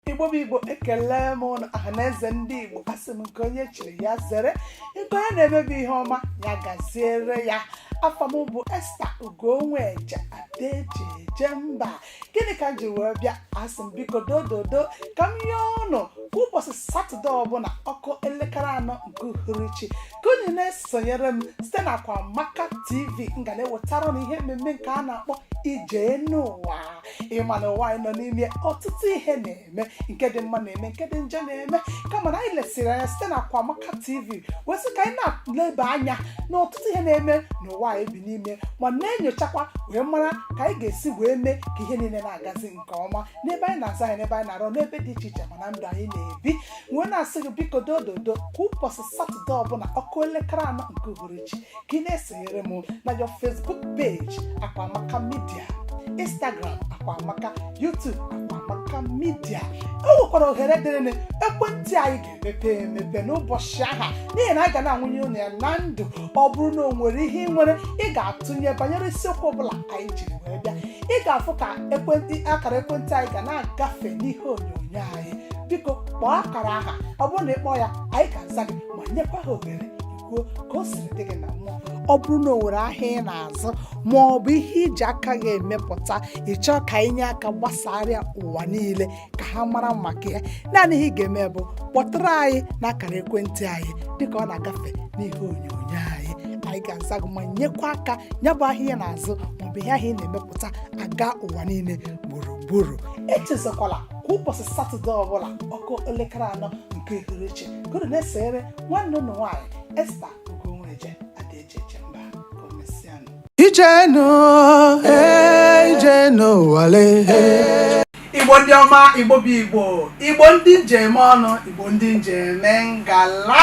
igbo bụ igbo ekelee m ụnụ ọha na eze ndị igbo asị m nke onye chiri ya zere nke onye na-emebe ihe ọma ya gaziere ya afa m bụ esta ugonweje ada eji eje mba gịnị ka m ji wee bịa asị m biko dododo ka m yọọ ụnụ kwa ụbọchị satọde ọbụla ọ kụọ elekere anọ nke uhuruchi ka unu na-esonyere m site na akwamaka tv m ga na-ewetara unu ihe mmemme nke a na-akpọ ije enu ụwa ị ma na ụwa anyị nọ n'ime ya ọtụtụ ihe na-eme nke dị mma na-eme nke dị njọ na-eme kama na anyị lesiri anya site na Akwamaka TV wee sị ka anyị na-eleba anya na ọtụtụ ihe na-eme n'ụwa anyị bi n'ime ya ma na-enyochakwa wee mara ka anyị ga-esi wee mee ka ihe niile na-agazi nke ọma n'ebe anyị na-azụ ahịa n'ebe anyị na-arụ n'ebe dị iche iche ma na ndụ anyị na-ebi wee na-asị gị biko dododo kwa ụbọchị satọde ọbụla ọ kụọ elekere anọ nke uhuruchi ka ị na-esonyere m na your facebook page akwamaka media instagram akwamaka youtube akwamaka media o nwekwara ohere dịrịnụ ekwentị anyị ga-emepe emepe n'ụbọchị aha n'ihi na anyị ga na-awụnye unu ya na ndụ ọ bụrụ na o nwere ihe ị nwere ị ga-atụnye banyere isiokwu ọbụla anyị jiri wee bịa ị ga-afụ ka ekwentị akara ekwentị anyị ga na-agafe n'ihe onyonyo anyị biko kpọọ akara aha ọ bụrụ na ị kpọọ ya anyị ga-aza gị ma nyekwa gị ohere ị kwuo ka o siri dị gị na mmụọ ọ bụrụ na o nwere ahịa ị na-azụ ma ọ bụ ihe i ji aka gị emepụta ị chọọ ka anyị nye aka gbasara ya ụwa niile ka ha mara maka ya naanị ihe ị ga-eme bụ kpọtụrụ anyị n'akara ekwentị anyị dịka ọ na-agafe n'ihe onyonyo anyị anyị ga-aza gị ma nyekwa aka ya bụ ahịa ị na-azụ maọbụ ihe ahụ ị na-emepụta aga ụwa niile gburugburu echezọkwala kwa ụbọchị satọde ọbụla ọ kụọ elekere anọ nke uhuruchi ka unu na-esonyere nwanne unu nwaanyị esta ugonweje ada eji eje mba ka o mesịanụ Ije enu, eh, ije enu ụwa le, eh. igbo ndị ọma igbo bụ igbo igbo ndị m ji eme ọnụ igbo ndị m ji eme ngala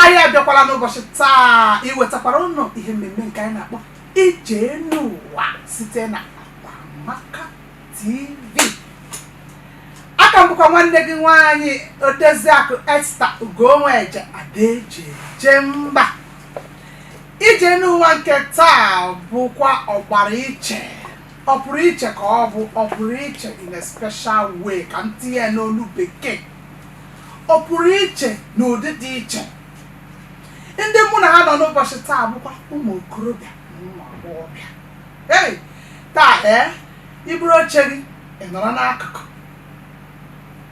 anyị abịakwala n'ụbọchị taa iwetakwara ụnụ ihe mmemme nke anyị na-akpọ ije enu ụwa site na akwamaka TV a ka m bụkwa nwanne gị nwaanyị odeziakụ Esta Ugonweje Ada eji eje mba ije enu ụwa nke taa bụkwa ọgbara iche ọ pụrụ iche ka ọ bụ ọ pụrụ iche in a special way ka m tinye ya n'olu bekee ọ pụrụ iche n'ụdị dị iche ndị mụ na ha nọ n'ụbọchị taa bụkwa ụmụ okorobịa na ụmụ agbọghọbịa ei taa ee i buru oche gị ị nọrọ n'akụkụ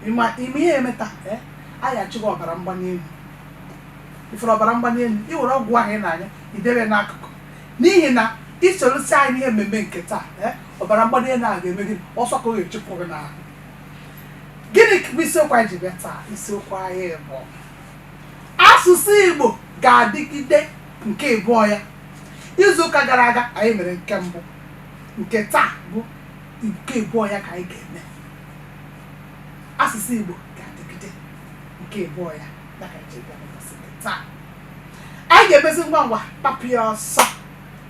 ịma ime ihe eme taa ee anyị achụwa ọbara mgbali elu i nwere ọbara mgbali elu i were ọgwụ ahụ ị na-aṅụ ya i debe n'akụkụ n'ihi na i sorosie anyị n'ihe mmemme nke taa ee ọbara mgbali elu ahụ ga-eme gị ọsọ ka ọ ga-eji pụ gị n'ahụ gịnị bụ isiokwu anyị ji bịa taa isiokwu anyị bụ asụsụ igbo ga-adịgide Nke ịbụọ ya. Izu ụka gara aga anyị mere nke mbụ, nke taa bụ nke ịbụọ ya ka anyị ga-eme. Asụsụ Igbo ga-adịgide nke ịbụọ ya ya ka anyị ji bịa n'ụbọchị nke taa. Anyị ga-emezi ngwa ngwa kpapụ ya ọsọ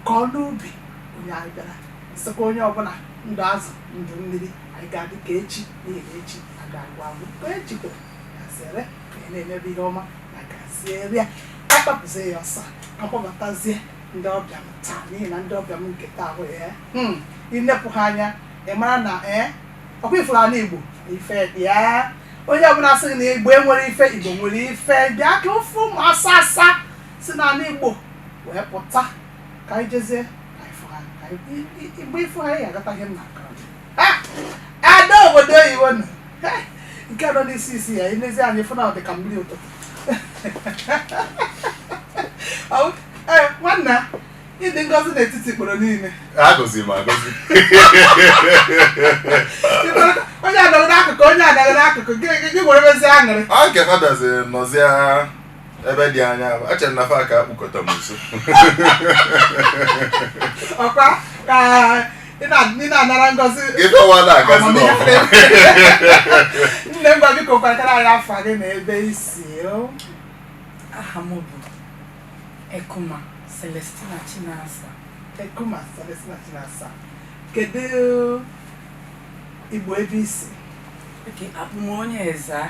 ka ọ n'ubi onye anyị bịara sịkwa onye ọbụla ndụ azụ ndụ mmiri anyị ga-adị ka echi n'ihi na echi aga agwụ agwụ ka echi kwere ya sere anyị na-emebe ihe ọma na-agaziri ya akpapụzie ya ọsọ a kpọbatazie ndị ọbịa m taa n'ihi na ndị ọbịa m nke taa bụ ya hmm, i nepụ ha anya ị mara na ee ọkwa ị fụrụ anị igbo ife dị ya onye ọbụla sị gị na igbo enwerọ ife igbo nwere ife bịa ka ọ fụ ụmụ asa asa si n'anị igbo wee pụta ka anyị jezie ka anyị fụ ha ka anyị- i- i- mgbe ị fụ ha ị ya-aghọta ihe m na ada obodo oyibo nọ nke nọ n'isi isi ya i nezie anya ị fụ na ọ dị ka mmiri ụtụtụ nwanna ị dị ngọzi n'etiti ikporo niile agọzi m agọzi onye anọrọ n'akụkụ onye anọrọ n'akụkụ gị were mezi aṅụrị ọ nke fadazi nọzia ebe dị anya echere na fa ga-akpụkọta m nso ọkwa ka ị na- ị na-anara ngọzi ife wa na-agazi n'ọfụma nne m ngwa biko kọwatara anyị afa gị na ebe i si o. aha m bụ ekuma celestina chinasa ekuma celestina chinasa kedu igbo ebe i si okay abụ m onye ezza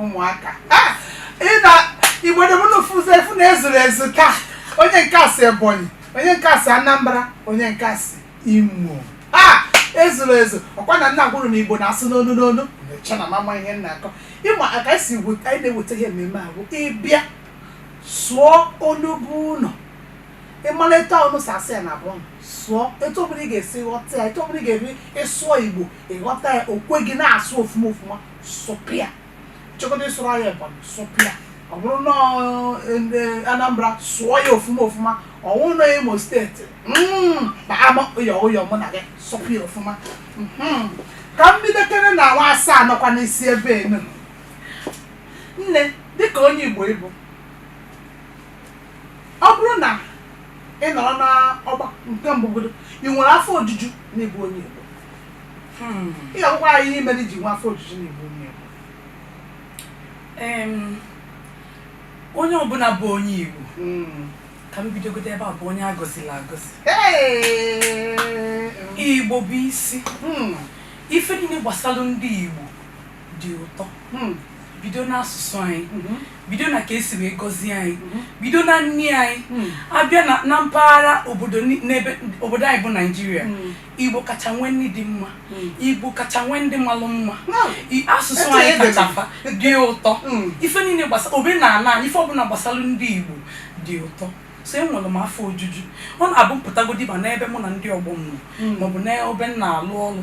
ụmụaka ah! igbo ndị be m unu afụ na ezuru ezu taa onye nke a si ebonyi onye nke a si anambra onye nke a si imo ah! ezuru ezu ọkwa nna nna kwuru na igbo na-asụ n'onu n'onu mecha na mama ihe m na-akọ ị ma aka esi anyị na-eweta ihe mmemme a bụ ịbịa sụọ onu igbo ụlọ ị mara etu unu si asụ ya na be unu sụọ etu ọbụla ị ga-esi ghọta ya etu ọbụla ị ga-esi sụọ igbo ị ghọta ya o kwe gị na-asụ ofuma ofuma sụpịa ị chọọ ịsụrụ ya ebonyi sụpịa ọ bụrụ na anambra sụọ ya ofuma ofuma ọ wụ na imo steeti kpaama ụyọ ụyọ mụ na gị sụpịa ofuma ka m bidokere na nwa asa nọkwa n'isi ebe enu nne dịka onye igbo ị bụ Ọ bụrụ na ị nọrọ n'agba nke mbụ godo ị nwere afọ ojuju na ịbụ onye Igbo ị ga-agwakwa anyị ihe mere i ji nwee afọ ojuju na ịbụ onye Igbo Em, onye ọbụla bụ onye Igbo Mm. ka m bidogodo ebe a bụ onye agọzila agọzi Hey! Igbo bụ isi Mm. ife niile gbasara ndị Igbo dị ụtọ hmm. bido n'asụsụ anyị hmm. bido na ka esi wee gọzie anyị hmm. bido na nni anyị abịa na mpaghara obodo anyị bụ naijiria igbo kacha nwee nni dị mma igbo kacha nwee ndị malụ mma asụsụ anyị kacha dị ụtọ ife niile gbasara omenala anyị ife ọbụla gbasara ndị igbo dị ụtọ so enwere m afọ ojuju ọ na-abụ m pụtagodi ma n'ebe mụ na ndị ọgbọ m nọ maọbụ n'ebe m na-alụ ọrụ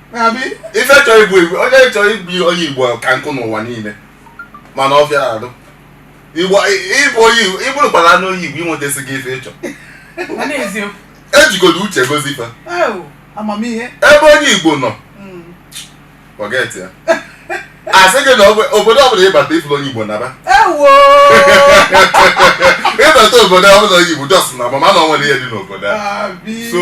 ife chọrọ ịbụ igbo onye chọrọ ịbụ onye igbo ka nkụ n'ụwa niile mana ọ fịara arụ igbo ịbụ onye igbo ị bụrụkwalanụ onye igbo i nwetasịgo ife ị chọ ejigodo uche gọzie fa ebe onye igbo nọ hmm. forget ya a sị gị na obodo ọbụla ị bata ị fụrọ onye igbo naba ị bata obodo ọbụla onye igbo just na-ama na o nwere ihe dị n'obodo so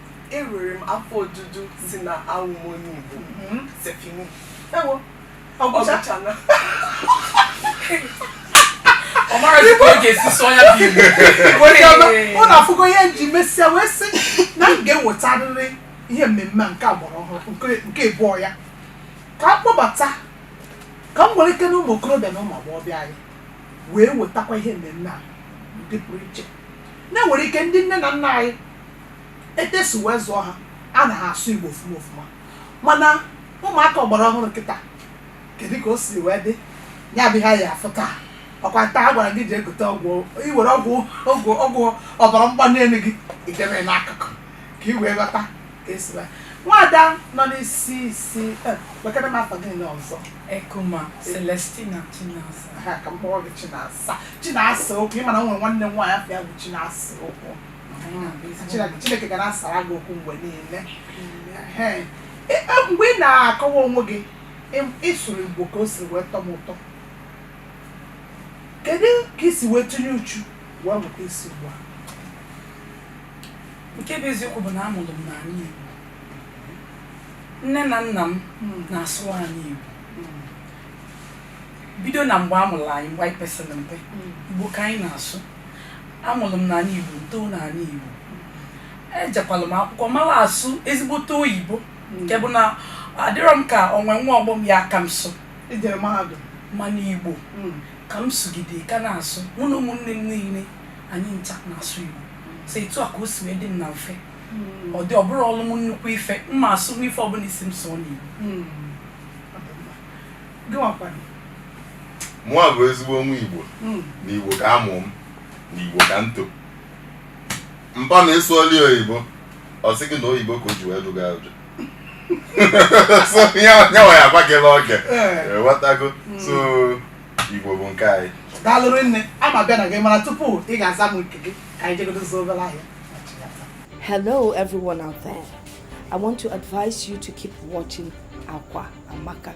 Enwere m afọ ojuju si na awụ m onye Igbo. Mm-hmm. C'est fini. Ewo. Ọgwụchana. Ọ marọzị ka ọ ga-esi sụọ ya bụ Igbo. Onye ọma, ụnụ afụgo ihe m ji mesịa wee sị na m ga-ewetarịrị ihe mmemme nke ọgbara ọhụrụ nke ịbụọ ya ka a kpọbata ka m nwere ike na ụmụ okorobịa na ụmụ agbọghọbịa anyị wee wetakwa ihe mmemme a n'ụdị pụrụ iche na e nwere ike ndị nne na nna anyị etu esi wee zụọ ha ana ha asụ Igbo ofuma ofuma mana ụmụaka ọgbara ọhụrụ kịta kedu ka o si wee dị ya bụ ihe anyị afụ taa ọkwa taa a gwara gị jee gote ọgwụ i were ọgwụ ọgwụ ọgwụ ọbara mgbali elu gị i debe n'akụkụ ka ị wee ghọta ka esi wee nwaada nọ n'isi isi eh, wekere m afa gị niile ọzọ Ekuma Celestina Chinasa. ha ka m kpọọ gị Chinasa Chinasa okwu ị ma na m nwere nwanne m nwaanyị afa ya bụ Chinasa okwu Chineke ga na-asara gị okwu mgbe niile mgbe ị na-akọwa onwe gị ị sụrụ Igbo ka o siri wee tọ m ụtọ kedu ka i si wee tinye uchu wee mụta ịsụ Igbo a nke bụ eziokwu bụ na amụrụ m n'ala Igbo nne na nna m hmm. na-asụ anyị Igbo hmm. bido na mgbe a mụrụ anyị mgbe anyị pesịrị mpe hmm. Igbo ka anyị na-asụ Amụlụ m n'ana Igbo, m too n'ana Igbo. Ejekwalụ m akwụkwọ mala asụ ezigbote oyibo nke bụ na adịrọ m ka o nwe nwa ọgbọ m ya-aka m asụ I jere mahadum. mana Igbo Mm. ka m sụgide ka na-asụ mụ na ụmụnne m niile anyị ncha na-asụ Igbo so etu a ka o si wee dị m na mfe Mm. ọ dị ọ bụrụ ọlụ m nnukwu ife m ma asụ ife ọbụna ị sị m sụọ n'Igbo Mm. mụwa bụ ezigbo nwa igbo hmm. na igbo ka a mụ m na igbo ka m to mpa na ị sụọlị oyibo ọ sị gị na oyibo ka o ji wee dụga ụjọ so ya nwa ya agwa gị n'oge eh. ghọtago hmm. so igbo bụ nke anyị daalụ rinne ama bịa na gị mana tupu ị ga-aza m nke gị ka anyị jegodo zụọ obere ahịa Hello, everyone out there. I want to advise you to keep watching Akwa Amaka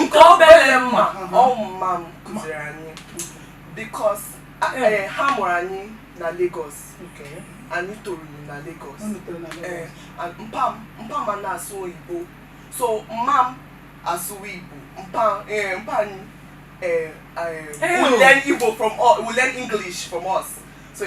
nke obele m ma ọ bụ mma m kụziri anyị because eh, ha mụrụ anyị na Lagos anyị toro na Lagos eh, mpa m na-asụ oyibo so mma m asụwa Igbo mpa eh, anyị uh, uh, will learn Igbo from us, will learn English from us. So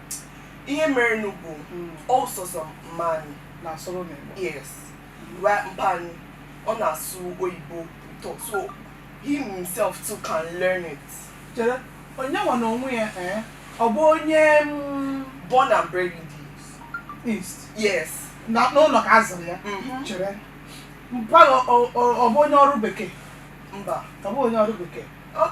Ihe merenụ bụ ọ sọsọ mma unu na-asụrụ unu Igbo. Yes. Right mpa unu. Ọ na-asụ oyibo ụtọ. So he himself too can learn it. Chere, onye nwa na onwe ya eh? Ọ bụ onye mm, Born and bred in the East. East. Yes. Na n'ụlọ ka a zụrụ ya. Mhm. Chere. Mpa ọ- ọ ọ- ọ bụ onye ọrụ bekee. Mba. Ọ bụ onye ọrụ bekee. Ọ-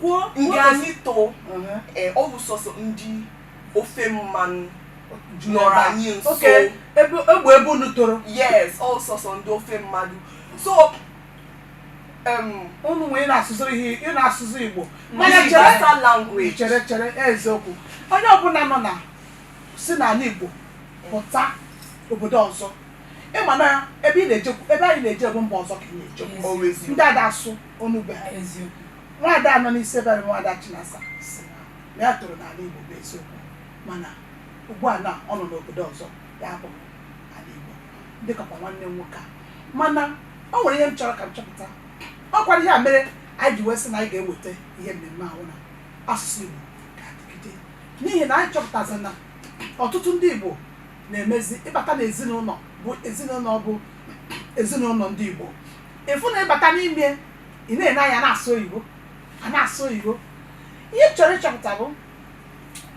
kwuo ndị anyị too ee ọ bụ sọsọ ndị ofe mmanụ nọrọ anyị nso ebe ebe unu toro yes ọ sọsọ ndị ofe mmanụ so unu wee na-asụziri ihe ị na-asụzi igbo mana chere chere chere eziokwu onye ọbụla nọ na si n'ala igbo pụta obodo ọzọ ị ma na ebe ị na-ejekwu ebe anyị na-eje bụ mba ọzọ ka ị na-eje ndị ada asụ onu Igbo ha eziokwu nwaada nọ n'isi ebe a bụ nwaada Chinasa sị na ya toro n'ala Igbo bụ eziokwu mana ugbu a na ọ nọ n'obodo ọzọ na-abụghị ala Igbo dịkakwa nwanne m nwoke a mana o nwere ihe m chọrọ ka m chọpụta ọ kwara ihe a mere anyị ji wee sị na anyị ga-eweta ihe mmemme a bụ na asụsụ Igbo ga-adịgide n'ihi na anyị chọpụtazi na ọtụtụ ndị Igbo na-emezi ị bata n'ezinụlọ bụ ezinụlọ bụ ezinụlọ ndị Igbo ị fụ na ị bata n'ime ị na-ene anya na-asụ oyibo a na-asụ oyibo ihe m chọrọ ịchọpụta bụ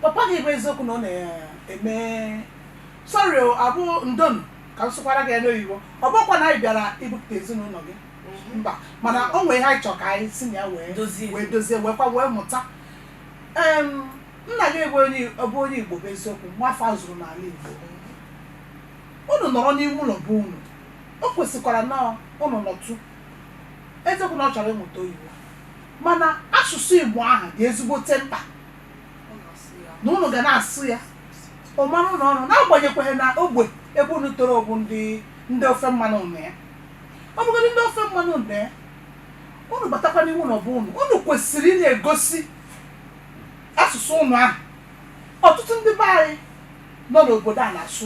papa gị bụ eziokwu na ọ na-eme sorry o, ya bụ ndonụ ka m sụkwara gị ya n'oyibo ọ bụkwa na anyị bịara ibupụta ezinụlọ gị mba mana o nwere ihe anyị chọrọ ka anyị si na ya wee dozie wee dozie wee kwa wee mụta Em, nna gị bụ onye ọ bụ onye Igbo bụ eziokwu nwa afọ a zụrụ n'ala Igbo unu nọrọ n'ime ụlọ bụ unu O kwesịkwara na ụnụ nọtụ. Eziokwu na ọ chọrọ ịmụta oyibo mana asụsụ Igbo ahụ dị ezigbote mkpa na ụnụ ga na-asụ ya ọ mara ụnụ ọnụ n'agbanyekweghị na ogbe ebe ụnụ toro bụ ndị ndị ofe mmanụ ụnụ ya ọ bụgodị ndị ofe mmanụ ụnụ ya ụnụ batakwa n'ime ụlọ bụ ụnụ ụnụ kwesịrị ịna-egosi asụsụ ụnụ ahụ ọtụtụ ndị be anyị nọ n'obodo a na-asụ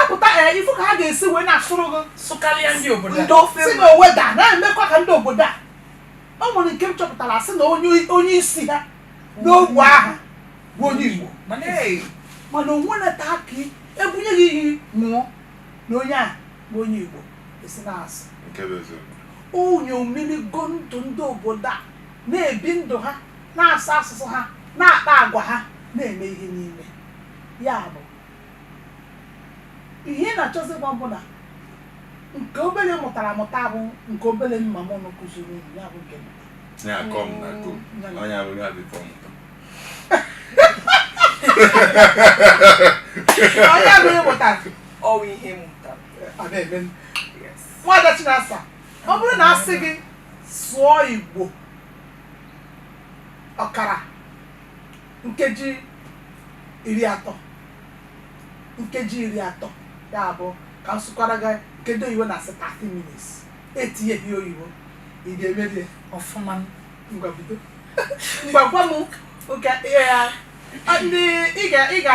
apụta ee eh, ị fụ ka ha ga-esi wee na-asụrụ gị sụkarịa ndị obodo a si na owe da na-emekwa ka ndị obodo a o nwere nke m chọpụtara sị na onye isi ha n'ogbe ahụ bụ onye Igbo mana onwe na-ata aka ebunye gị iyi ṅụọ na onye a bụ onye Igbo esi na-asụ onye omirigo ndụ ndị obodo a na-ebi ndụ ha na-asụ asụsụ ha na-akpa agwa ha na-eme ihe niile ya bụ Ihe ị na-achọzi ịgwa m bụ na nke obere ị mụtara amụta bụ nke obere mama unu kụziri unu, ya bụ nke m. Ya kọọ m na ko. Ya na- Onye abụghị abịkọ m ụtọ. Onye abụghị mụtara, ọ wụ ihe m mụtara ọ na-eme m. yes Nwaada Chinasa, ọ bụrụ na a sị gị sụọ Igbo ọkara nkeji iri atọ nkeji iri atọ ya bụ ka m sụkwara gị nke ndị oyibo na-asị 30 minutes etinyeghị oyibo ị ga-emeri ya ọfụma ngwa bido ngwa gwa m nke ihe ya a, ndị ị ga ị ga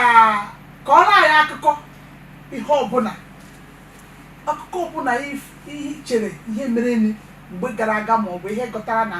kọọrọ anyị akụkọ ihe ọbụla akụkọ ọbụla if- ihe i chere ihe mere mgbe gara aga ma ọ bụ ihe ị ghọtara na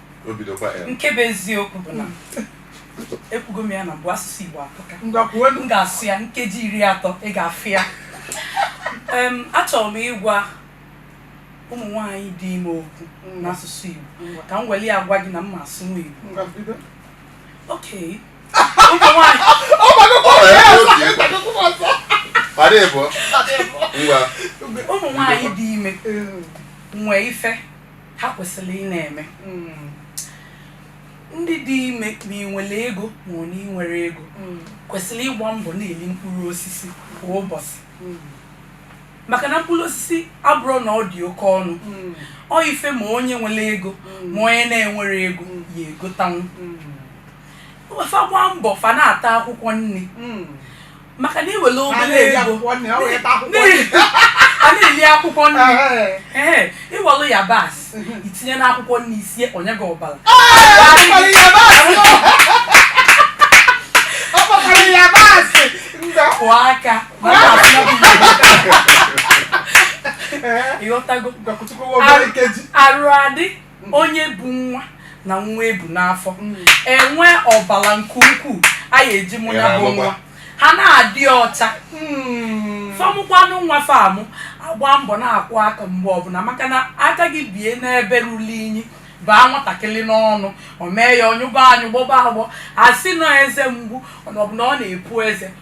nke bụ eziokwu bụ na ekwugo m ya na mbụ asụsụ Igbo atọka m ga-asụ ya nkeji iri atọ ị ga-afụ ya achọrọ m ịgwa ụmụ nwaanyị dị ime okwu n'asụsụ Igbo ka m weli ya gwa gị na m ma asụ nwa Igbo okay ụmụ nwaanyị ụmụ nwaanyị dị ime nwee ife ha kwesịrị ị na-eme mm. ndị dị ime ma i nwere ego ma ọ na i nwerọ ego mm. kwesịrị ịgba mbọ na-eli mkpụrụ osisi kwa ụbọchị mm. maka na mkpụrụ osisi abụrọ na ọ dị oke ọnụ ọ ife ma onye nwere ego ma onye na-enwerọ ego ya-egotanwu fa gbaa mbọ fa na-ata akwụkwọ nri maka na i were obere ego a na-eli akwụkwọ nri ee i welu yabasị i tinye n'akwụkwọ nri i sie o nye gị ọbara kwụọ aka ị ghọtago arụ adị onye bu nwa na nwa e bu n'afọ mm. enwee ọbara nke ukwuu a ya-eji mụ ya bụ nwa ha na-adị ọcha mm. fa mụkwanụ nwa fa mụa gbaa mbọ na-akwụ aka mgbe ọbụla maka na aka gị bie n'ebe ruru inyi baa nwatakịrị n'ọnụ o mee ya ọ nyụba anyụ gbọba agbọ a sị na ọ eze mgbu ọ bụ na ọ na-epu eze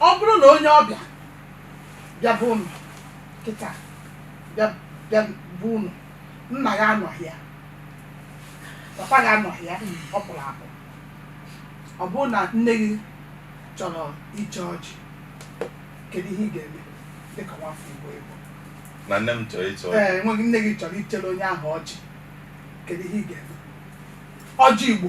ọ bụrụ na onye ọbịa bịa be unu kịta bịa bịa be unu nna gị anọghị ya papa gị anọghị ya ọ pụrụ apụ ọ bụrụ na nne gị chọrọ iche ọjị kedu ihe ị ga-eme dịka nwafọ igbo igbo na nne m chọrọ ịchọ ee enweghị nne gị chọrọ ichere onye ahụ ọjị kedu ihe ị ga-eme ọjị igbo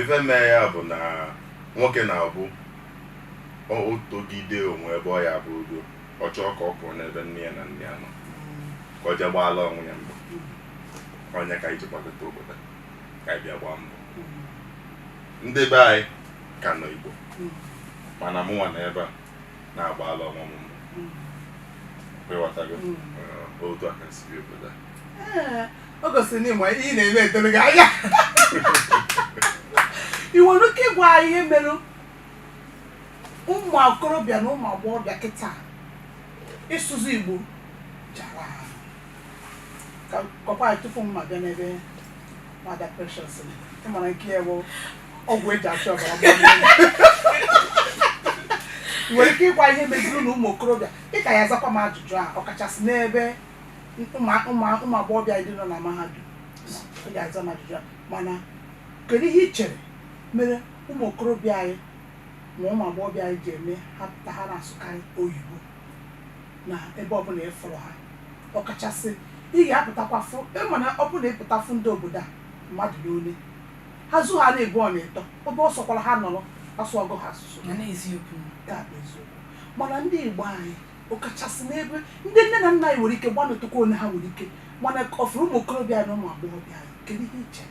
Ife mee ya bụ na nwoke na-abụ o o togide o nwee ebe ọ ya-abụ ogo, ọ chọọ ka ọ pụọ n'ebe nne ya na nna ya nọ, ka o jee gbaala onwe ya mbọ. Ọ nya ka anyị ji gbagota obodo, ka anyị bịa gbaa mbọ. Ndị be anyị ka nọ Igbo, mana mụnwa nọ ebe a. na-agbaala onwe m mbọ. ị ghọtago Mm. Eh, otu a ka si bi obodo a Ee, o gosiri na ị ma ihe ị na-eme doro gị anya i nwere ike ịgwa anyị ihe mere ụmụ okorobịa na ụmụ agbọghọbịa kịta ịsụzi igbo ji ara ahụ. ka kọkwa anyị tupu mụ abịa n'ebe nwada precious ị mara nke ya bụ ọgwụ e ji achụ ọbara mgbali elu. I nwere ike ịgwa ihe meziri na ụmụ okorobịa dịka ị ga-azakwa m ajụjụ a ọkachasị n'ebe ụmụ- ụmụ- ụmụ agbọghọbịa ndị nọ na mahadum ị ga-aza m ajụjụ a mana kedu ihe i chere mere ụmụ okorobịa anyị ma ụmụ agbọghọbịa anyị ji eme ha pụta ha na-asụkarị oyibo na ebe ọbụla ị fụrụ ha ọkachasị ị ga-apụtakwa fụ ị ma na ọ bụrụ na ị pụta fụ ndị obodo a mmadụ n'ole ha zu ha na-ebu ọ na-etọ obe ọ sọkwara ha nọrọ asụwago ha asụsụ na n'eziokwu nke a bụ eziokwu mana ndị igbo anyị ọkachasị n'ebe ndị nne na nna anyị nwere ike gbanịtụkwa one ha nwere ike mana ọ fụrụ ụmụ okorobịa anyị na ụmụ agbọghọbịa anyị kedu ihe i che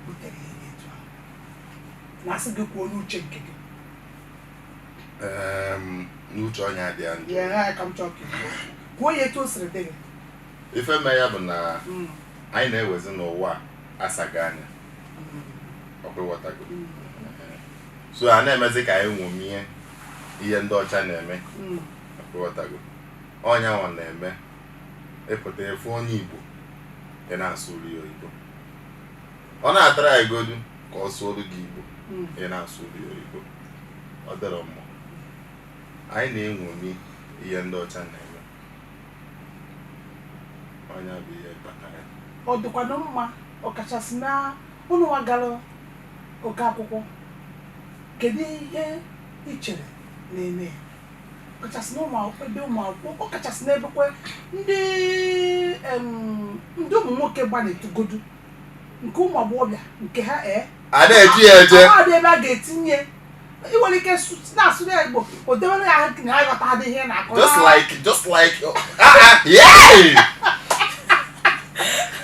butere ihe dị etu ahụ na asị gị kwuo n'uche nke gị Em, n'uche onye adị ya njọ ya ha ka m chọọ ka ị kwuo. kwuo ya etu o siri dị gị ife mee ya bụ na Mm, anyị na-ewezi na ụwa asago anya mm, ọkwa ịghọtago mm, so a na-emezi ka anyị nwomie ihe ndị ọcha na-eme mm. ọkwa ịghọtago ọ nya nwa na-eme ị pụta ị fụ onye igbo ọ na-asụrụ ị oyibo ọ na-atrygodu ka ọ sụọrụ gị igbo hmm. ọ na-asụrụ ị oyibo ọ dịrọ mma anyị na-enwomi ihe ndị ọcha na-eme ọ nya bụ ihe kpata ya ọ dịkwanụ mma ọkachasị na ụnụ nwa gara oke akwụkwọ kedu ihe ị chere na-eme ya ọkachasị na ụmụ akwụkwọ ọ kachasị n'ebekwe ndị ndị ụmụ nwoke gbanịtụgodu nke ụmụ agbọghọbịa nke ha ee eh? a na-eji ya eje ọ dị ebe a ga-etinye ị nwere ike na-asụ ya igbo o dewere ya ahụ na aghọtadị ihe ị na-akọ just like just like oh, ah, ah,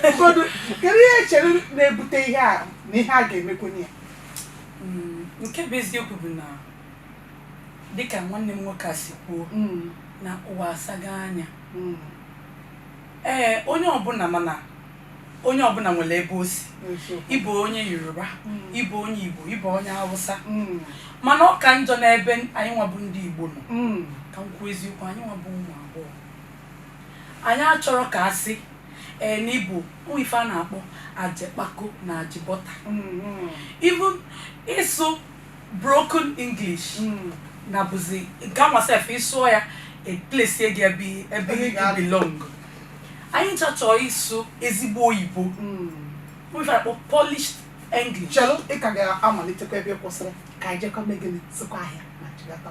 ụfọdụ kedu ihe i chere na-ebute ihe a na ihe a ga-emekwenye ya hmm, nke bụ eziokwu bụ na dịka nwanne m nwoke a si kwuo hmm. na ụwa asago anya hmm. ee onye ọbụla mana onye ọbụla nwere ebe o si ị bụ onye yoruba ị bụ onye igbo ị bụ onye hausa mana ọ ka njọ n'ebe anyị nwa bụ ndị igbo nọ ka m kwuo eziokwu anyị nwa bụ ụmụ agbọghọ anyị achọrọ ka a sị ee na ị bụ o nwe ife a na-akpọ ajekpako na ajebọta even ịsụ broken English na-abụzi nke a nwa sef ị sụọ ya e place gị ebe ebe Ebe ị ị ga-anọ. belong anyị ncha chọọ ịsụ ezigbo oyibo ife a kpọ polished English chelu ị ka ga-amalitekwa ebe ị kwụsịrị ka anyị jekwa mee gịnị zụkwa ahịa ma chighata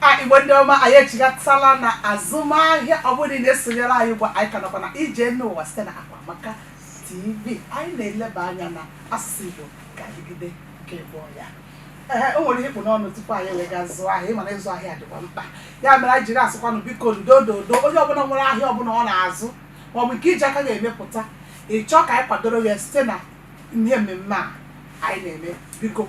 a igbo ndị ọma anyị echighatala na azụmahịa ọ bụrụ na ị na-esonyere anyị ugbu a, anyị ka nọkwa na ije n'ụwa site na Akwamaka TV anyị na-eleba anya na asụsụ igbo ga-adịgide ka ịbụ ya ee o nwere ihe ị kpụ n'ọnụ tupu anyị wee gaa zụọ ahịa ị ma na ịzụ ahịa dịkwa mkpa ya mere anyị jiri asịkwanụ biko ndo dodo onye ọbụla nwere ahịa ọbụla ọ na-azụ maọbụ nke i ji aka gị emepụta ị chọọ ka anyị kwadoro ya site na ihe mmemme a anyị na-eme biko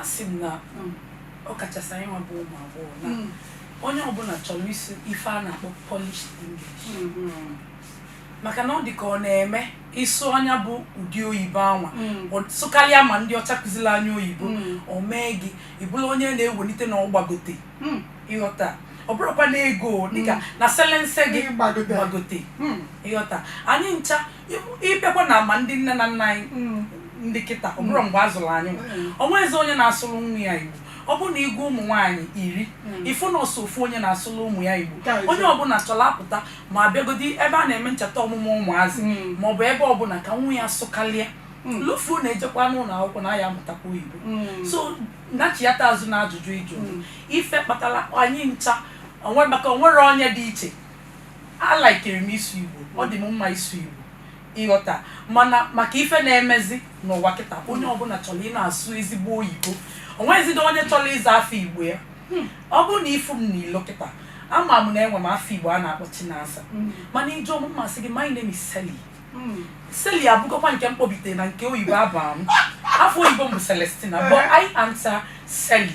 Asị m na mm, ọ kachasị anyị nwa bụ ụmụ agbọghọ na mm. onye ọbụla chọrọ ịsụ ife a na-akpọ polished English mm-hmm. maka na ọ dị ka ọ na-eme ị sụọ nya bụ ụdị oyibo anwa mm. sụkarịa ma ndị ọcha kụziri anyị oyibo mm. o mee gị ị bụlụ onye na-ewelite na ọ gbagote mm. ị ghọta ọ bụrụkwa na ego dịka na selense gị gbagote ị ghọta anyị ncha ị bịakwa na ma ndị nne na nna anyị mm. ndị kịta ọ bụrọ mm. mgbe a zụrụ anyị mm. o nwezi onye na-asụrụ nwa ya igbo ọ bụrụ na ị gụọ ụmụ nwaanyị iri ị fụ na ọ sọ ofu onye na-asụrụ ụmụ ya igbo onye ọbụla chọrọ a pụta ma a bịagodi ebe a na-eme ncheta ọmụmụ ụmụazị ma ọ bụ ebe ọbụla ka nwa ya sụkalịa lufu na-ejekwa n'ụlọ akwụkwọ na ya amụtakwa oyibo so nachiata azụ na ajụjụ ị jụ ife kpatara anyị ncha o nwe maka o nwerọ onye dị iche A likere m ịsụ Igbo, ọ dị m mma ịsụ Igbo, ị ghọta, mana maka ife na-emezi n'ụwa kịta, onye ọbụla chọrọ ịna-asụ ezigbo oyibo, o nwezịdị onye chọrọ ịza afa Igbo ya. Ọ bụrụ na ị fụ m n'ilo kịta, ama m na enwe m afa Igbo a na-akpọ Chinasa, mana ị jụọ m, m asị gị, my name is Sally. Sally abụgokwa nke mkpọbite na nke oyibo a baa m afa oyibo m bụ Celestina but I answer Sally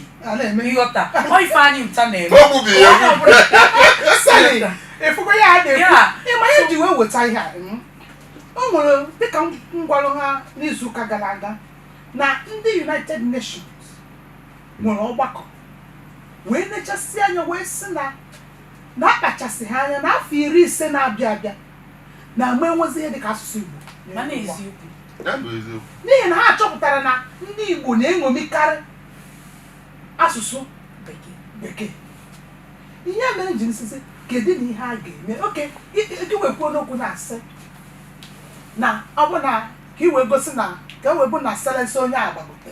ị ghọta ọ ife anyị ncha na-eme ị fụgo ya a na-ekwu ị ma ihe e ji wee weta ihe a o nwere dịka m gwalụ ha n'izu ụka gara aga na ndị United Nations nwere ọgbakọ wee nechasị anya wee sị na na akpachasịghị anya n'afọ iri ise na-abịa abịa na a ma enwezi ihe dịka asụsụ Igbo mana eziokwu n'ihi na ha chọpụtara na ndị Igbo na-eṅomikarị asụsụ bekee ihe mere m ji sị sị kedụnụ ihe a ga-eme okay i wee kwuo n'okwu na-asị na ọ bụ na ka i wee gosi na ka e wee bụ na selense onye agbagote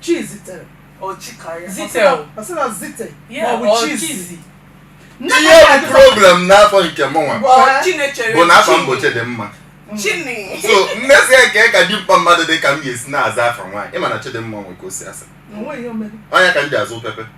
Chi zitere. Ọ chi ka ya. Zite Ọ sị na- o. Ọ sị na zite. Yeah, Ma ọ bụ ọ chi chi zi. zi. Nne ihe ya bụ problem n'afa nke mụnwa Ọ chi na-echere bụ na afa chi. m bụ Chidimma Chini. so m wee sị kee ka dimkpa mmadụ dị ka m ga-esi na-aza afa nwaanyị ị ma na Chidimma nwe ka o si asa O nweghị ihe o mere. ọ nya ka m ji aza pepe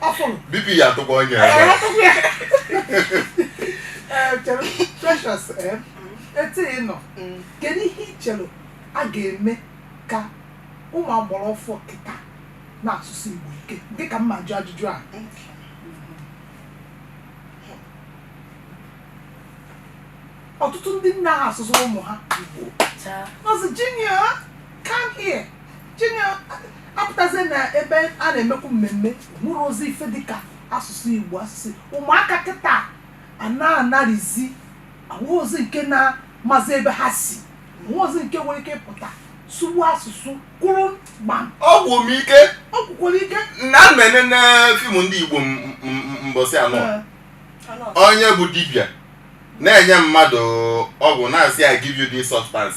afọ m bp ya atụkwa onye ya Ee, atụkwa ya. Ee, chere, Precious, ee, etu ị nọ Mm. kedu ihe ị chere a ga-eme ka ụmụ agbara ọfụụ kịta na-asụ asụsụ igbo like dịka mma jụ ajụjụ a ọtụtụ ndị anaha asụrụ ụmụ ha igbo Taa. nọzi jinia Come here. Junior apụtazie na ebe a na-emekwu mmemme nwere ozi ife dịka asụsụ Igbo asụsụ ụmụaka kịta a na-anarizi ahụzi nke na-amazi ebe ha si nwezi nke nwere ike ịpụta sụọ Igbo asụsụ kwụrụ gbam ọ gwụ m ike ọ kwụkwara ike na m enene fim ndị igbo m- m- m- mbọsị anọ onye bụ dibịa na-enye mmadụ ọgwụ na-asị ya give you this substance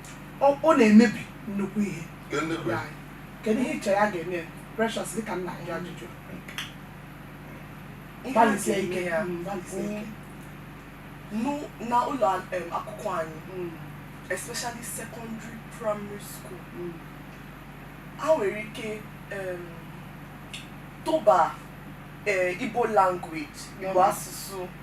ọ ọ na-emebi nnukwu ihe Kedu ndị kwe? Anyị. kedu ihe ị chere a ga-eme ya? precious dịka m na-ajụ ajụjụ Ihe a gbalịsie ga-eme ike ya Mm, gbalịsie ike nụ- na ụlọ em, akwụkwọ anyị Mm, especially secondary primary school mm, ha nwere ike em, tụba eh, igbo language igbo Mm. asụsụ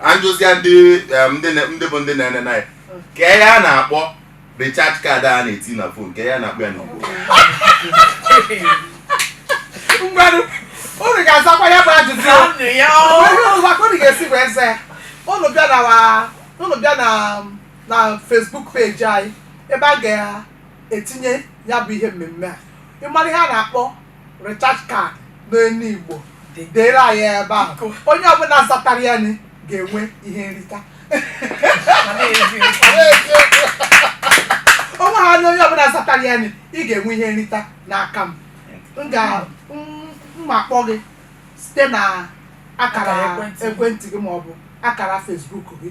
anjụzia ndị em, ndị na- ndị bụ ndị na-ene na ya kee ihe a na-akpọ recharge card a na-eti na phone kee ihe a na-akpọ ya n'igbo ngwanụ unu ga-azakwa ya bụ ajụjụ ahụ. Anụ ya o. O nwe ụzọ ka unu ga-esi wee zaa ya unu bịa na wa- unu bịa na na Facebook page anyị ebe a ga-etinye ya bụ ihe mmemme a ị mara ihe a na-akpọ recharge card n'olu igbo Dị. deere anyị ebe ahụ Biko. onye ọbụla zatara ya ni ga-enwe ihe nrita Ma na-eji onwe ha na onye ọbụla zatara ya ni ị ga-enwe ihe nrita n'aka m m ga m- m akpọ gị site na akara Akara ekwentị. ekwentị gị maọbụ akara Facebook gị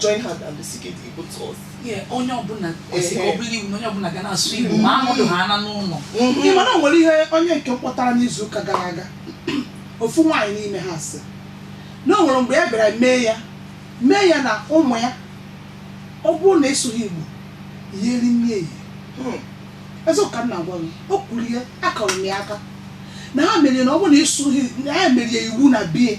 join hand and speak the Igbo to us. Yeah, onye ọbụla kwesịrị ka ọ bụrụ iwu na onye ọbụla ga na-asụ Igbo ma anọdụ ha ana n'ụlọ Ị mana o nwere ihe onye nke m kpọtara n'izu ụka gara aga ofu nwaanyị n'ime ha sị na o nwere mgbe ya bịara mee ya mee ya na ụmụ ya ọ bụrụ na ịsụghị Igbo ya eri nri eyi Hmm. eziokwu ka m na-agwa gị o kwuru ihe akụọrọ m ya aka na ha mere na ọ bụrụ na ịsụghị na ya mere ya iwu na be ya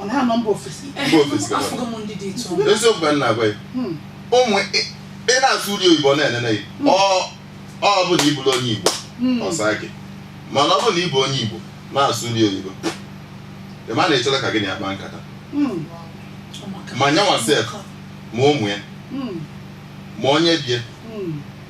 ọ na-anọ mba ofesi Mba ofesi ka afụgo m ndị dị etu ahụ. eziokwu ka m na-agwa ya Hmm. ụmụ ị- ị na-asụrụ ya oyibo ọ na-enene gị ọ ọ bụ na ị bụrọ onye igbo Hmm. ọ saa gị mana ọ bụ na ị bụ onye igbo na-asụrụ ya oyibo ị ma na ị chọrọ ka gị na ya kpaa nkata Hmm. Ọ maka- Ma nya nwa sef. ma ụmụ ya Hmm. ma onye be ya Hmm.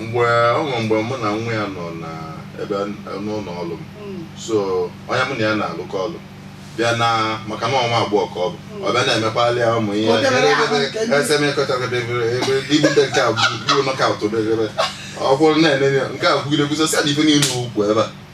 mgbe ọ nwere mgbe mụ na nwa ya nọ na ebe n'ụlọ ọrụ m so onye mụ na ya na-alụkọ ọrụ bịa na maka na ọ nwa agbọghọ ka ọ bụ ọ bịa na-emekwali ya ụmụ ihe Obere ahụ nke ndị- esemekọchakọdebere ebe ibute nke a gbuo knockout obere ọ kwụrụ na-enene nke a gwugide gwuzo sị na ife niile ukwu ebe a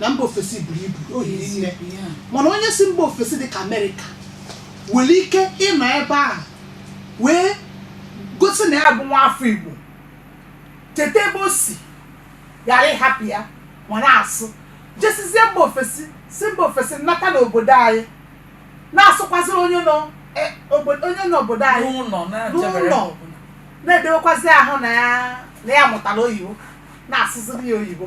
na mba ofesi buru ibu o hiri nne Yeah. mana onye si mba ofesi dị ka amerịka nwere ike ịnọ ebe ahụ wee gosi na ya bụ nwa afọ igbo cheta ebe o si ghara ịhapụ ya ma na-asụ jesizie mba ofesi si mba ofesi nata n'obodo anyị na-asụkwaziri onye nọ eh, obodo- onye nọ obodo anyị n'ụlọ na-echebere N'ụlọ. ọbụla. na-edewekwazi ahụ na ya na ya mụtara oyibo na-asụziri ya oyibo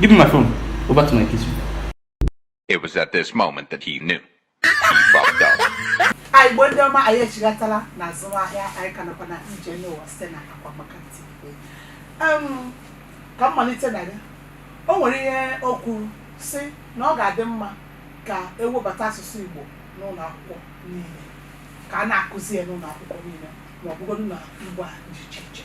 Give me my phone. Go back to my kitchen. It was at this moment that he knew. He fucked up. anị igbo ndị ọma anyị echighatala na azụmahịa anyị ka nakwa na ije n'ụwa site na akwa maka ntị Em, ka m malite na gị o nwere ihe o kwuru si na ọ ga-adị mma ka e webata asụsụ igbo n'ụlọ akwụkwọ niile ka a na-akụzi ya n'ụlọ akwụkwọ niile ma ọ bụgodu na mba dị iche iche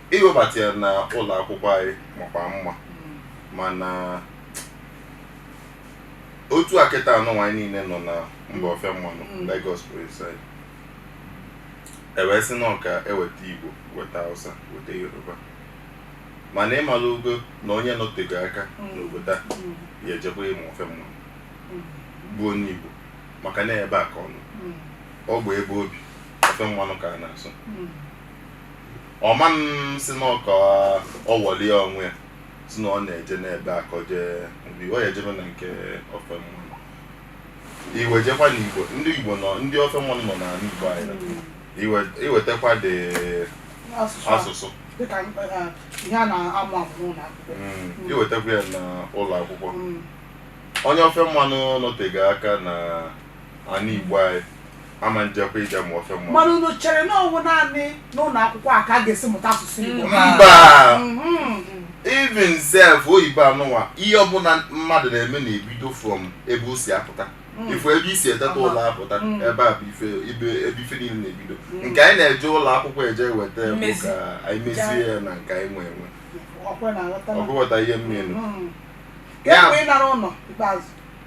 iwebata ya na ụlọ akwụkwọ anyị makwa mma mana otu a kịta anụnwa anyị niile nọ na mba ofe mmanụ Mm. Lagos precisely e wee sị na ọ ka e weta Igbo weta Hausa weta Yoruba mana ị malugo na onye nọtego aka Mm. n'obodo a Mm, ya ejekwa ịmụ ofe mmanụ mm, bụ onye Igbo maka na ebe a ka ọ nọ mm, ọ bụ ebe o bi ofe mmanụ ka a na-asụ mm. ọ manụ sị na ọ ka ọ worry onwe ya si na ọ na-eje n'ebe a ka ọ jee mgbe ọ ya ejebe na nke ofe mmanụ i wee jekwa na igbo ndị igbo nọ ndị ofe mmanụ nọ n'ala igbo anyị na iwe- iwetakwa the asụsụ a- asụsụ dịka eh, ihe a na-amụ amụ n'ụlọ akwụkwọ Mm, iwetakwa ya na ụlọ akwụkwọ Mm. onye ofe mmanụ nọtego aka na ana igbo anyị ama njekwa ije mụọ ofe mmanụ mana unu chere na ọ wụ naanị n'ụlọ akwụkwọ a ka a ga-esi mụta asụsụ igbo mba Mhm. even sef oyibo anụnwa ihe ọbụla mmadụ na-eme na-ebido from ebe o si apụta ị fụ ebe i si eteta ụla apụta Mm. ebe a bụ ife ibe ebe ife niile na-ebido nke anyị na-eje ụlọ akwụkwọ eje eweta bụ Mmezi. ka anyị mezie ya na nke anyị nwe enwe ọkwa ị na-aghọta ọ na- bụ ị ghọta ihe m mean Mhm. Ya- Ka e wee nara ụlọ ikpeazụ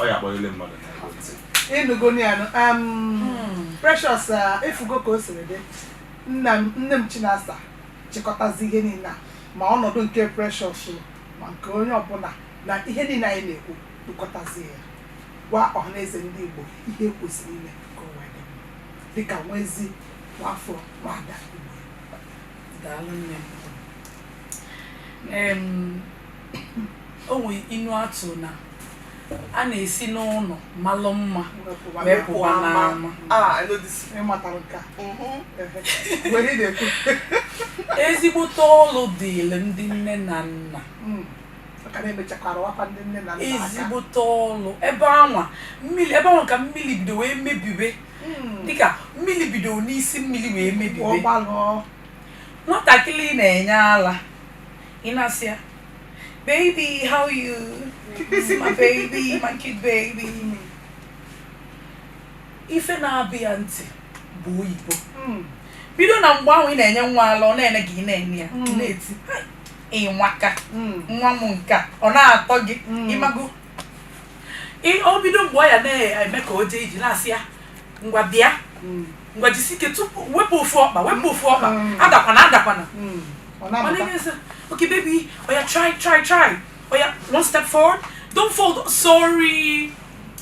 ọ ya akpọghịle mmadụ ị nụgonị anụ hmm. precious uh, ị fụgo ka o siri dị nne m chinasa chịkọtazi ihe niile a ma ọnọdụ nke precious ma nke onye ọbụla na ihe niile anyị na-ekwu kpokọtazi ya gwa ọhaneze ndị igbo ihe e kwesịrị ime ka o wee dị dịka nwezi nwafọ nwada igbo daalụ nne o nwe inu atụ na a na-esi n'ụnọ malụ mma wee pụwa n'ama ezigbote ọlụ dịịrị ndị nne na nna ezigbote ọlụ ebe anwa mmiri ebe anwa ka mmiri bido wee mebibe dịka mmiri bido n'isi mmiri wee mebibe Nwatakịrị ị na-enye ala, ị na-asị ya, baby, how you? This is my baby, my cute baby. Ife na-abịa ya ntị bụ oyibo. Hmm. Bido na mgbe ahụ ị na-enye nwa ala, ọ na-ene gị ị na-ene ya, hmm. na-eti, ị nwaka, hmm. nwa m nke a ọ na-atọ gị, ị mago Ị- o bido mgbe ọ ya na-eme ka o jee ije ị na-asị ya ngwa bịa Mm. ngwa jisi ike tupu wepụ ofu ọkpa wepụ ofu ọkpa Mm. adakwana adakwana Mm. Ọ Ọ na-amụta. na-eme sị, okay baby oya try try try oya one step forward don't fall sorry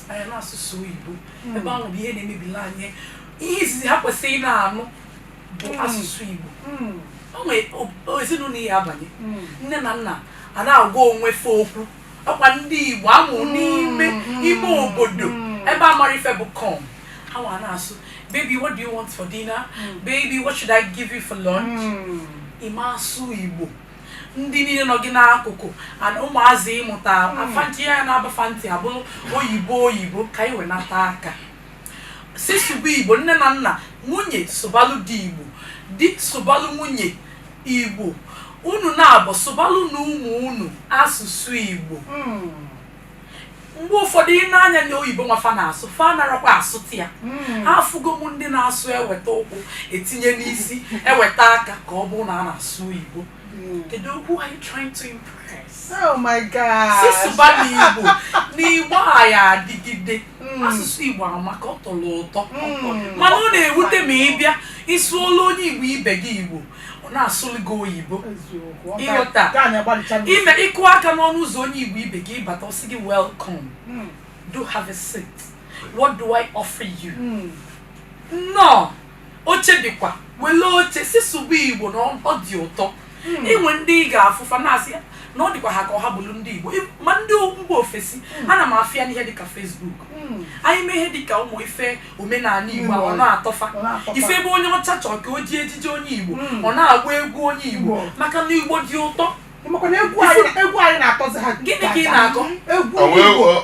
anyị na asụsụ oyibo ebe ahụ bụ ihe na-emebilụ anyị ihe izizi ha kwesịrị na-anụ bụ asụsụ igbo Mm. o nwere o- ezinụlọ ị ya-abanye Mm. nne na nna a na-agwa onwe fe okwu ọkwa ndị igbo a mụ mm, n'ime mm, ime mm, obodo ebe a marọ ife bụ come ha nwa na-asụ baby what do you want for dinner baby what should i give you for lunch ị ma asụ igbo ndị niile nọ gị n'akụkụ and ụmụazị ị mụta a fa ntị ya na-aba fa ntị abụrụ oyibo oyibo ka anyị wenata aka si sụba igbo nne na nna nwunye sụbalụ di igbo di sụbalụ nwunye Igbo, unu naabọ sụbalụ nụ ụmụ unu asụsụ Igbo. Mgbe ụfọdụ ị nee anya na oyibo anwa fa na-asụ fa anarọkwa asụta ya ha afụgo m ndị na-asụ eweta ụkwụ etinye n'isi eweta aka ka ọ bụrụ na a na-asụ oyibo kedu who are you trying to impress? Oh my God. si sụba nụ igbo na igbo a ya-adịgide Mm. asụsụ igbo amaka ọ tọrọ ụtọ Mm. mana ọ na-ewute ma ị bịa ị sụọlụ onye igbo ibe gị igbo ọ na-asụlụ gị oyibo Eziokwu. Ọ Ịghọta. ga- ga anyị agbalịcha ndị- ime ị kụọ aka n'ọnụ ụzọ onye igbo ibe gị ị bata ọ sị gị welcome Mm. do have a seat what do i offer you Mm. nnọọ Oche dịkwa, welụ oche, sị sụba Igbo na ọ dị ụtọ. E nwe ndị ị ga-afụ fa na-asị na ọ dịkwa ha ka ha bụrụ ndị Igbo. Ị- Ma ndị mba ofesi, ana m afụ ya n'ihe dịka Facebook. Anyị mee ihe dịka ụmụ ife omenala Igbo a, ọ na-atọ fa. Ọ na-atọ fa. Ị fụ ebe onye ọcha chọrọ ka o jie ejiji onye Igbo, Mm. ọ na-agba egwu onye Igbo Igbo. maka na Igbo dị ụtọ. Ị makwa na egwu anyị egwu anyị na-atọzi ha Gịnị ka ị na-akọ? egwu Ọ wee- Igbo ọ-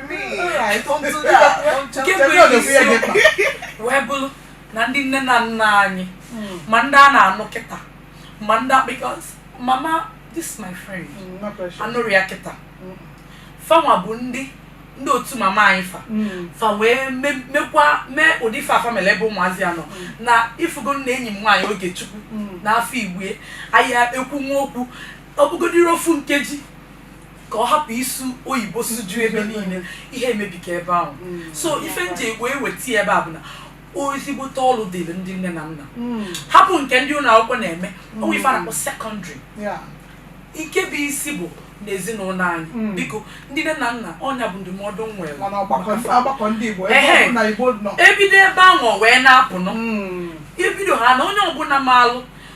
wee bụrụ na ndị nne na nna anyị hmm. ma ndị a na-anụ kịta ma ndị because mama this is my friend hmm, anụrụ ya kịta hmm. fanwa bụ ndị ndị otu mama anyị fa hmm. fa wee mekwa mee ụdị ife afa mere ebe ụmụazị a nọ hmm. na ịfụgo na enyi m nwaanyị Ogechukwu hmm. n'afọ igwe ahịa ekwu nwa okwu ọ bụgodịrị ofu nkeji ka ọ hapụ ịsụ oyibo suju ebe niile ihe emebika ebe ahụ so ife m ji wee weta ya ebe a bụ na ezigbote ọlụ dịrị ndị nne na nna hapụ nke ndị ụlọ akwụkwọ na-eme o nwe ife a na-akpọ secondary Yeah. nke bụ isi bụ n'ezinụlọ anyị Mm. biko ndị nne na nna ọ nya bụ ndụmọdụ m nwere mana ọgbakọ ndị- ọgbakọ ndị igbo ebe Ehe. ọbụna igbo nọ e bido ebe ahụ wee na-apụ nọ Mm. ebido ha na onye ọbụla maalụ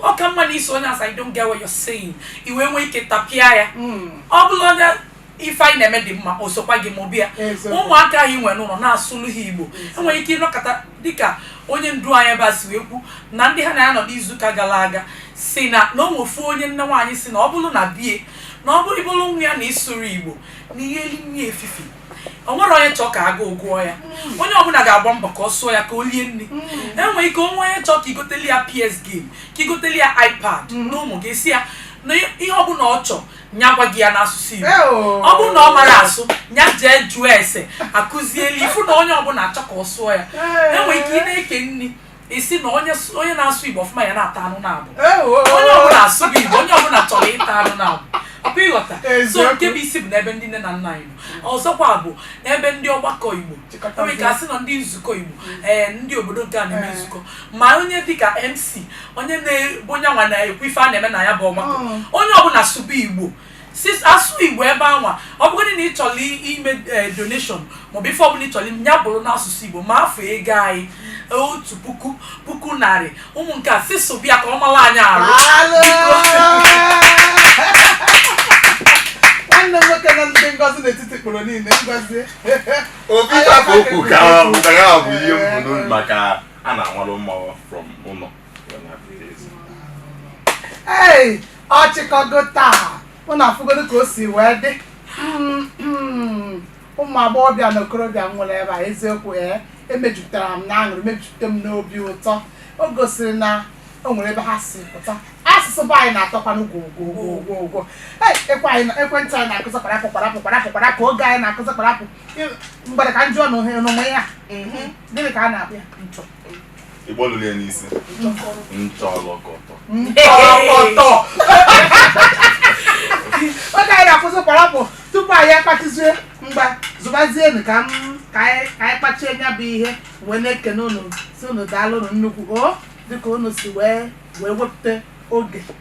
ọ ka mma na ị sụọ onye asị I don't get what you're saying i wee nwee ike tapịa ya hmm. ọ bụlụ onye ife anyị na-eme dị mma o sokwa gị mụba ya ụmụaka anyị nwere n'ụlọ na-asụlụ ha igbo e nwere ike ịnọkọta dịka onye ndu anyị ebe a si wee kwu na ndị ha na ya nọ n'izuụka gara aga si na na onwefu onye nne nwaanyị sị na ọ bụrụ na be ya na ọ bụrụ ị bụrụ nwa ya na ị sụrọ igbo na ihe eli nni efifi o nwere onye chọọ ka agụụ gụọ ya mm. onye ọbụla ga-agba mbọ ka ọ sụọ ya ka o lie nri mm. e nwere ike o nwee onye chọọ ka i goteli ya PS game ka i goteli ya iPad mm. n'ụmụ gị ị sị ya na ihe ọbụla ọ chọọ nya gwa gị ya n'asụsụ Igbo oh. ọ bụrụ na ọ marọ asụ nya jee jụọ ese a kụzieli ị fụ na onye ọbụla achọ ka ọ sụọ ya e nwere ike ị na-eke nri ị sị na onye s- onye na-asụ igbo ọfụma ya na-ata anụ naabọ onye ọbụla asụghị igbo onye ọbụla chọrọ ịta anụ naabọ ọ kwa ị ghọta so Eziokwu. nke bụ isi bụ n'ebe ndị nne na nna anyị nọ ọzọkwa bụ n'ebe ndị ọgbakọ igbo Chịkọtazie. e nwere ka a sị na ndị nzukọ igbo ee ndị obodo nke a na-eme Ee. nzukọ ma onye dịka mc onye na-abụ onye nwa na-ekwu ife a na-eme na ya bụ ọgbakọ Mm. onye ọbụla sụba igbo sis asụ igbo ebe anwa ọ bụgodị na ị chọrọ i- ime eh, donation maọbụ ife ọbụla ị chọrọ ime, ya bụrụ n'asụsụ igbo ma afa ego anyị otu puku puku narị ụmụ nke a sị sụba ya ka ọ mara anyị arụ nwanne m nwoke na ị dị ngọzi n'etiti ikporo niile ngozi obi ịtapụ okwu ka ụdara bụ ihe m bu n'obi maka a na-anwalụ mmanwụ from ụlọ ọ chịkọgo taa ụnụ afụgodu ka o si wee dị ụmụ agbọghọbịa na okorobịa nwere ebe a eziokwu ee emejupụtara m na aṅụrị mejupụta m n'obi ụtọ o gosiri na o nwere ebe ha si pụta asụsụ be anyị na-atọkwanụ gwogwogwogwogwo ekwentị anyị na-akụzi kparapụ kparapụ kparapụ kparapụ oge anyị na-akụzi kparapụ mgbere ka m jụọ na ohere n'onwe ya gịnị ka a na-akpọ ya ịgbọlụrụ ya n'isi nchọlọkọtọ nchọlọkọtọ oge anyị na-akwụsị kwarapụ tupu anyị akpachizue mgba zụbazienu ka anyị kpachie nya bụ ihe wee na-ekene unu sị unu daalụnụ nnukwu o dịka unu si wee wee wepụta oge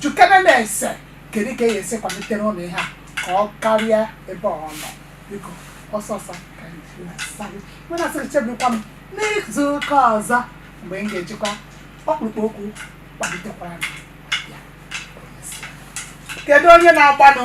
Jụkene na-asị kedu ka e ya-esi kwalitere unu ihe a ka ọ karịa ebe ọ nọ biko ọsọ ọsọ ka anyị ji na-asa gị. Mụ na-asị gị chebekwa m n'izu ụka ọzọ mgbe m ga-ejikwa ọkpụrụkpụ okwu kwalitekwara m. Ya, ka emesịa. Kedu onye na-agbanụ?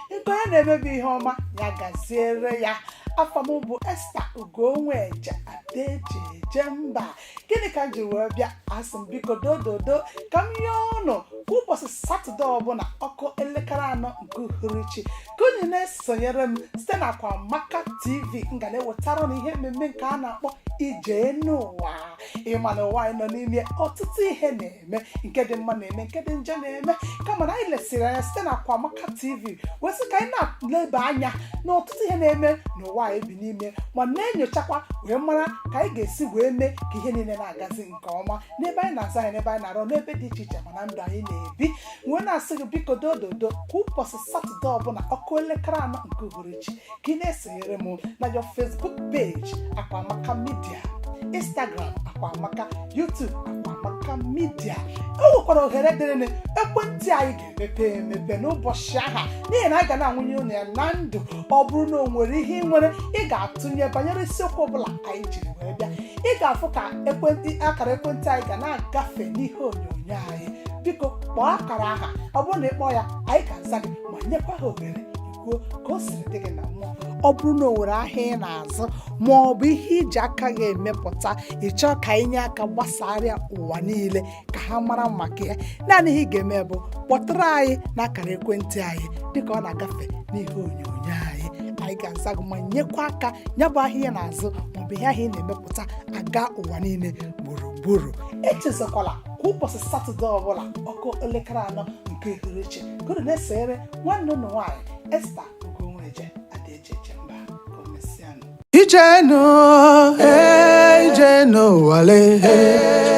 nke onye na-eme bụ ihe ọma ya gaziere ya afa m bụ Esther Ugonweje Adaejiejemba gịnị ka m ji wee bịa asị m biko dododo ka m yọọ ụnụ kwa ụbọchị satọde ọbụla ọ kụọ elekere anọ nke uhuruchi ka unu na-esonyere m site na Akwamaka TV m ga na-ewetara unu ihe mmemme nke a na-akpọ ije enu ụwa ị ma na ụwa anyị nọ n'ime ọtụtụ ihe na na-eme nke dị mma na-eme nke dị njọ na-eme kama na anyị lesịrị anya site na Akwamaka TV wee sị ka anyị na-eleba anya na ọtụtụ ihe na-eme n'ụwa anyị bi n'ime ma na-enyochakwa wee mara ka anyị ga-esi wee mee ka ihe niile na-agazi nke ọma n'ebe anyị na-azụ ahịa n'ebe anyị na-arụ n'ebe dị iche iche ma na ndụ anyị na-ebi wee na-asị gị biko dododo kwa ụbọchị satọde ọbụla ọ kụọ elekere anọ nke uhuruchi ka ị na-esonyere m na your facebook page akwamaka media instagram akwamaka youtube akwamaka media o nwekwara ohere dịrịnụ ekwentị anyị ga-emepe emepe n'ụbọchị aha n'ihi na anyị ga na-anwụnye unu ya na ndụ ọ bụrụ na o nwere ihe ị nwere ị ga-atụnye banyere isiokwu ọbụla anyị jiri wee bịa ị ga-afụ ka ekwentị akara ekwentị anyị ga na-agafe n'ihe onyonyo anyị gị biko kpọọ akara aha ọ bụrụ na ị kpọọ ya anyị ga-aza gị ma nyekwa gị ohere ị kwuo ka o siri dị gị na mmụọ ọ bụrụ na o nwere ahịa ị na-azụ ma ọ bụ ihe i ji aka gị emepụta ị chọọ ka anyị nye aka gbasara ya ụwa niile ka ha mara maka ya naanị ihe ị ga-eme bụ kpọtụrụ anyị n'akara ekwentị anyị dịka ọ na-agafe n'ihe onyonyo anyị anyị ga-aza gị ma nyekwa aka ya bụ ahịa ị na-azụ maọbụ ihe ahịa ị na-emepụta agaa ụwa niile gburugburu echezakwala kwa ụbọchị satọde ọbụla ọ kụọ elekere anọ nke uhuruchi ka unu na-esoro nwanne unu nwaanyị Esther Ugonweje Adaejiejemba ka o mesịanụ Ije enu, eh, ije enu ụwa le, eh.